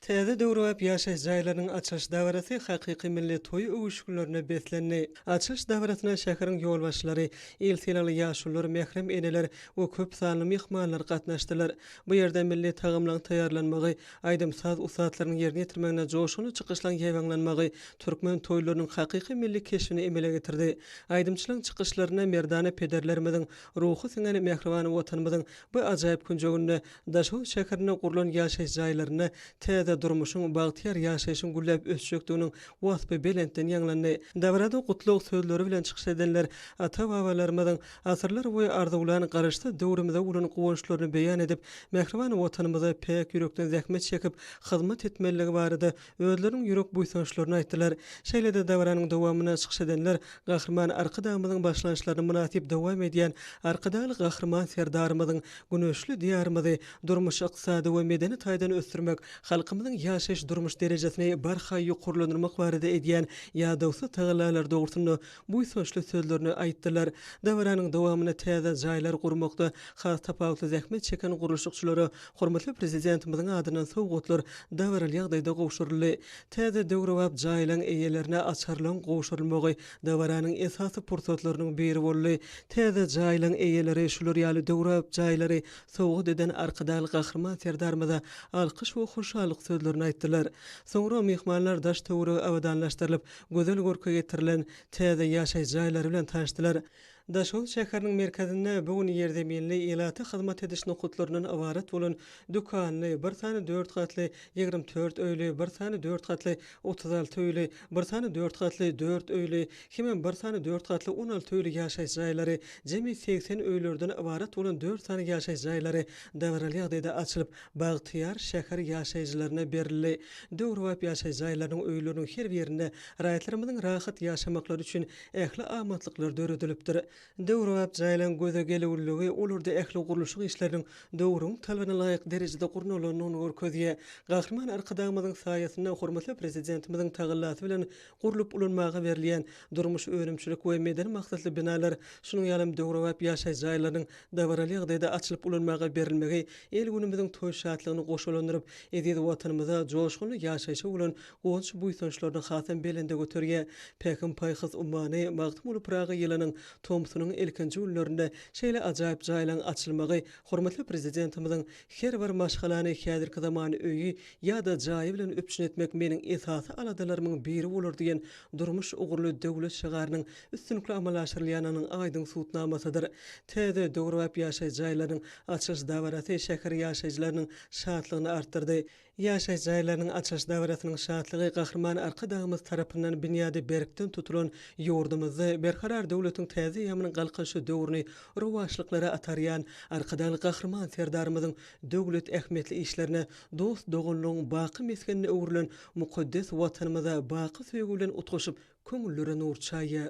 Täze döwrebap ýaşaýyş jaýlarynyň açylyş dabarasy hakyky milli toý öwüşginlerine beslendi. Açylyş dabarasyna şäheriň ýolbaşçylary, il sylagly ýaşulular, mährem eneler we köp sanly myhmanlar gatnaşdylar. Bu ýerde milli tagamlaryň taýýarlanmagy, aýdym-saz ussatlarynyň ýerine ýetirmeginde joşgunly çykyşlaryň ýaýbaňlanmagy türkmen toýlarynyň hakyky milli keşbini emele getirdi. Aýdymçylaryň çykyşlarynda merdana pederlerimiziň ruhy siňen mähriban Watanymyzyň bu ajaýyp künjeginde Daşoguz şäherinde gurlan ýaşaýyş jaýlarynda täze durmuşyň, bagtyýar ýaşaýşyň gülläp ösjekdiginiň waspy belentden ýaňlandy. Dabarada gutlag sözleri bilen çykyş edenler ata-babalarymyzyň asyrlar boýy arzuwlan Garaşsyz döwrümize bolan guwançlaryny beýan edip, mähriban Watanymyza päk ýürekden zähmet çekip, hyzmat etmelidigi barada özleriniň ýürek buýsançlaryny aýtdylar. Şeýle-de dabaranyň dowamynda çykyş edenler Gahryman Arkadagymyzyň başlanşlaryny mynasyp dowam edýän Arkadagly Gahryman Serdarymyzyň güneşli Diýarymyzy durmuş-ykdysady we medeni taýdan ösdürmek, halkymyzyň ýaşaýyş-durmuş derejesini barha ýokarlandyrmak barada edýän ýadawsyz tagallalary dogrusynda buýsançly sözlerini aýtdylar. Dabaranyň dowamynda täze jaýlar gurmakda has tapawutly zähmet çeken gurluşykçylara hormatly Prezidentimiziň adyndan sowgatlar dabaraly ýagdaýda gowşuryldy. Täze döwrebap jaýlaryň eýelerine açarlaryň gowşurylmagy dabaranyň esasy pursatlarynyň biri boldy. Täze jaýlaryň eýeleri şular ýaly döwrebap jaýlary sowgat eden Arkadag Gahryman Serdarymyza alkyş we hoşallyk sözlerini aýtdylar. Soňra myhmanlar daş-töweregi abadanlaşdyrylyp, gözel görke getirilen täze ýaşaýyş jaýlary bilen tanyşdylar. Daşoguz şäheriniň merkezinde bu gün ýerzeminli ilata hyzmat ediş nokatlaryndan ybarat bolan dükanly, bir sany dört gatly, ýigrimi dört öýli, bir sany dört gatly, otuz alty öýli, bir sany dört gatly, dört öýli, hemem bir sany dört gatly, on alty öýli ýaşaýyş jaýlary, jemi segsen öýlerden ybarat bolan dört sany ýaşaýyş jaýlary dabaraly ýagdaýda açylyp, Bagtyýar şäher ýaşaýjylaryna berildi. Döwrebap ýaşaýjy jaýlarynyň, öýleriniň her birinde raýatlarymyzyň rahat ýaşamaklary üçin ähli amatlyklar döredilipdir. Döwrebap jaýlaryň göze gelüwliligi olarda ähli gurluşyk işleriniň döwrüň talabyna laýyk derejede gurnalandygyny görkezýär. Gahryman Arkadagymyzyň saýasynda hormatly Prezidentimiziň tagallasy bilen Gurlup ulanmaga berilýän durmuş-önümçilik we medeni maksatly binalar, şunuň ýalam döwrebap ýaşaýyş jaýlarynyň dabaraly ýagdaýda açylyp ulanmaga berilmegi il-günümiziň toý şatlygyny goşalandyryp, eziz Watanymyza, joşgunly ýaşaýşa bolan guwanç-buýsançlaryny hasam belende göterýär. Pähim-paýhas ummany Magtymguly Pyragy ýylynyň tomsunyň ilkinji günlerinde şeýle ajaýyp jaýlaryň açylmagy hormatly Prezidentimiziň Her bir maşgalany häzirki zaman öýi ýa-da jaýy bilen üpjün etmek meniň esasy aladalarymyň biri bolar diýen durmuş ugurly döwlet şygarynyň üstünlikli amala aşyrylýanynyň aýdyň subutnamasydyr. Täze, döwrebap ýaşaýjy jaýlarynyň açylyş dabarasy şäher ýaşaýjylarynyň şatlygyny artdyrdy. Ýaşaýyş jaýlarynyň açylyş dabarasynyň şatlygy Gahryman Arkadagymyz tarapyndan binýady berkden tutulan ýurdumyzda Berkarar döwletiň täze eýýamynyň Galkynyşy döwrüni rowaçlyklara atarýan Arkadagly Gahryman Serdarymyzyň döwlet ähmiýetli işlerine, dost-doganlygyň baky mesgenine öwrülen mukaddes Watanymyza baky söýgi bilen utgaşyp, köňüllere nur çaýýar.